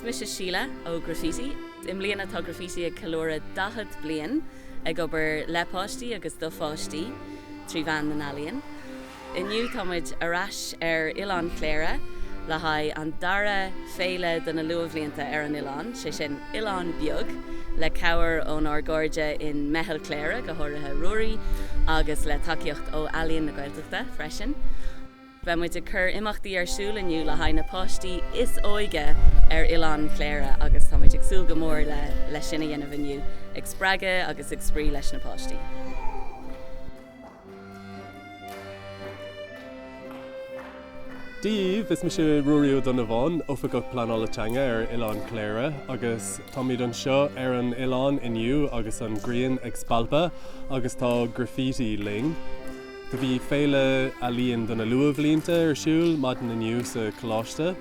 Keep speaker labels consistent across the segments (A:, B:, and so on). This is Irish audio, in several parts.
A: Is mise Síle ó Graffiti. I mbliana tá Graffiti ag ceiliúradh 40 bliain ag obair le páistí agus do pháistí trí mheán na n-ealaíon. Inniu tá muid ar ais ar Oileán Chléire le haghaidh an dara féile do na luathbhlianta ar an oileán, sé sin Oileán Beag, le cabhair ón ár gcairde in Meitheal Chléire, go háirithe Ruairí, agus le tacaíocht ó Ealaíon na Gaeltachta freisin. Beidh muid ag cur imeachtaí ar siúl inniu le haghaidh na páistí is óige ar Oileán Chléire agus tá muid ag súil go mór le le sin a dhéanamh inniu, ag spreagadh agus ag spraoi leis na páistí. Dia daoibh! Is mise Ruairí Ó Donnabháin, Oifigeach Pleanála Teanga ar Oileán Chléire agus táimid anseo ar an oileán inniu agus an ghrian ag spalpadh agus tá graffiti linn. Do bhí Féile Ealaíon do na Luathbhlianta ar siúl maidin inniu sa Coláiste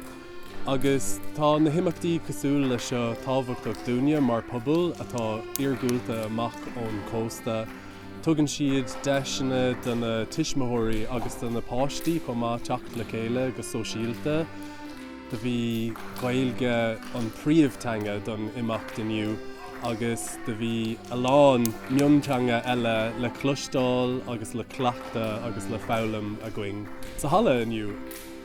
A: agus tá na himeachtaí cosúil leis seo tábhachtach dúinne mar pobal atá iargúlta amach ón cósta. Tugann siad deiseanna do na tuismitheoirí agus do na páistí chomh maith teacht le chéile go sóisialta. Do bhí Gaeilge an príomhtheanga don imeacht inniu agus do bhí a lán mionteanga eile le cloisteáil agus le cleachtadh agus le foghlaim againn sa halla inniu.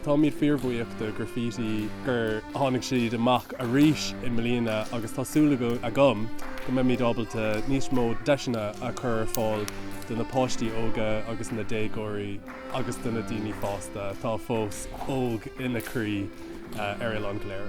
A: Táimid fíorbhuíoch do Graffiti gur tháinig siad amach arís i mbliana agus tá súil agam go mbeimid ábalta níos mó deiseanna a chur ar fáil do na páistí óga agus na déagóirí. agus do na daoine fásta atá fós óg ina croí ar Oileán Chléire.